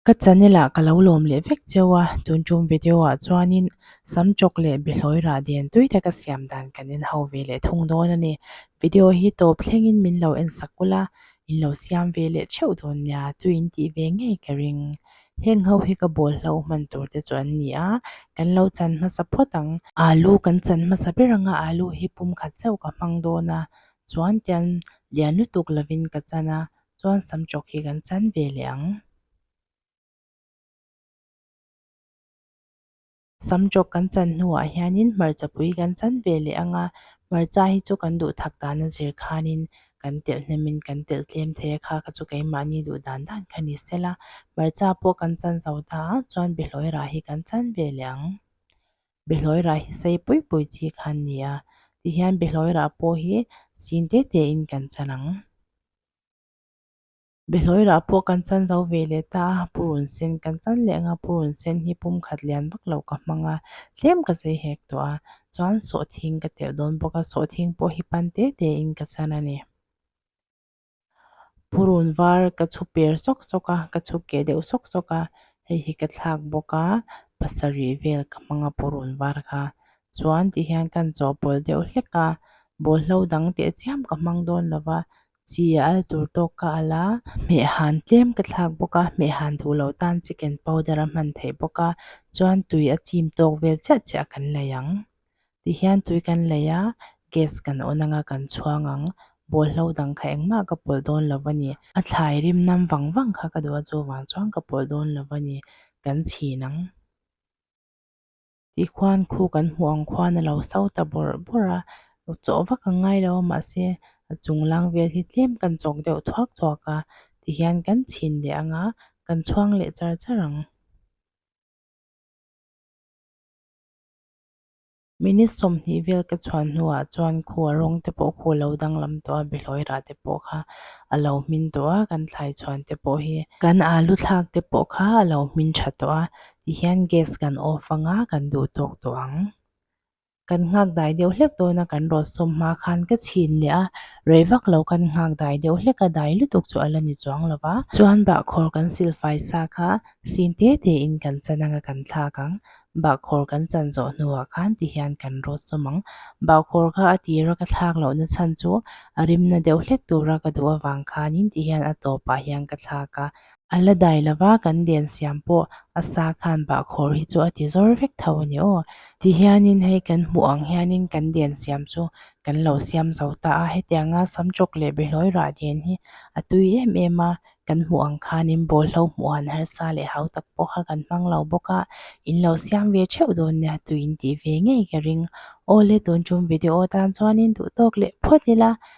Ka channel ah ka lo lawm leh vek cheu a, tun tum video ah chuanin sam chawk leh bihlawi rah dian tui te ka siam dan kan en ho ve leh thung dawn a ni. Video hi tawp thlengin min lo en sak ulh a, in lo siam ve leh theuh dawn nia chu in tih ve ngei ka ring. Heng ho hi ka bawl hlau hman tur te chu an ni a, kan lo chan hmasa phawt ang. Alu kan chan hmasa ber ang a, alu hi pum khat chauh ka hmang dawn a, chuan tian lian lutuk lovin ka chan a, chuan sam chawk hi kan chan ve leh ang. Sam jawk kan chan hnuah hianin hmarcha pui kan chan ve leh ang a, hmarcha hi chu kan duhthak dana zir khanin kan telh hnemin kan telh tlem thei a kha kha chu keimahni duh dan dan kha ni se la, hmarcha pawh kan chan zo ta a chuan bihlawirah hi kan chan ve leh ang. Bihlawirah hi sei pui pui chi kha an ni a, tihian bihlawirah pawh hi sin te te in kan chan ang. Behlawira pawh kan chan zo ve leh ta a, Pu Run Sen kan chan leh ang a, Pu Run Sen hi pum khat lian vak lo ka hmang a, tlem ka zei hek tawh a, chuan Sawhthing ka telh dawn bawk a, Sawhthing pawh hi pan te te in ka chan a ni. Pu Run var ka chhu per sawk sawk a, ka chhu keh deuh sawk sawk a, hei hi ka thlak bawk a, pasarih vel ka hmang a Pu Run var kha, chuan tih hian kan chawhpawlh deuh hlek a, bawlhlo dang teh chiam ka hmang dawn lo va, Chîa al tur tâwk ka al a, hmeh hân tlêm ka thlâk bawk a, hmeh hân duh lo tân chicken powder a hman theih bawk a, chuan tui a chîm tâwk vêl chiah chiah kan lei ang. Tih hian tui kan lei a, gas kan on anga kan chhuang ang, bawlhlo dang kha engmah ka pawlh dâwn lo va ni. A thlai rim nam vang vang kha ka duh a chuvang chuan ka pawlh dâwn lo va ni, kan chhîn ang. tih khuan khu kan hmuh ang khuan a lo sa ta bawr bawr a chawh vak ang ngai lo a mahse a chung lang vel hi tlem kan chawk deuh thuak thuak a tihian kan chhin leh ang a kan chhuang leh char char ang minute sawmhnih vel ka chhuan hnu ah chuan khu a rawng te pawh khu a lo danglam tawh a bihlawih rah te pawh kha a lo hmin tawh a kan thlai chhuan te pawh hi kan alu thlak te pawh kha a lo hmin tha tawh a. Tihian gas kan off anga kan duh tawk tawh ang kan nghak dai deuh hlek dawn a kan rawn sawm hma khan ka chhin leh a rei vak lo kan nghak dai deuh hlek a dai lutuk chu ala ni chuang lo va chuan bah khawr kan sil fai sa kha sin te te in kan chan anga kan thlak ang bah khawr kan chan zawh hnu ah khan tihian kan rawn sawm ang bah khawr kha a tir a ka thlak loh na chhan chu a rim na deuh hlek tura ka duh avang khan in tihian a tawp ah hian ka thlak a. A la dai lo va, kan lian siam pawh a sa khan bahkhawr hi chu a ti zawr vek tho a ni aw. Ti hianin hei kan hmuh ang hianin kan lian siam chu kan lo siam zo ta a, hetiang nga sam chawk leh behlawi rah lian hi a tui em em a, kan hmuh ang khanin bawlhhlawh hmuh han harsa leh hau tak pawh kha kan hmang lo bawk a, in lo siam ve theuh dawn nia tui in tih ve ngei ka ring. Awle tun chum video atan chuanin duhtawk leh phawt ila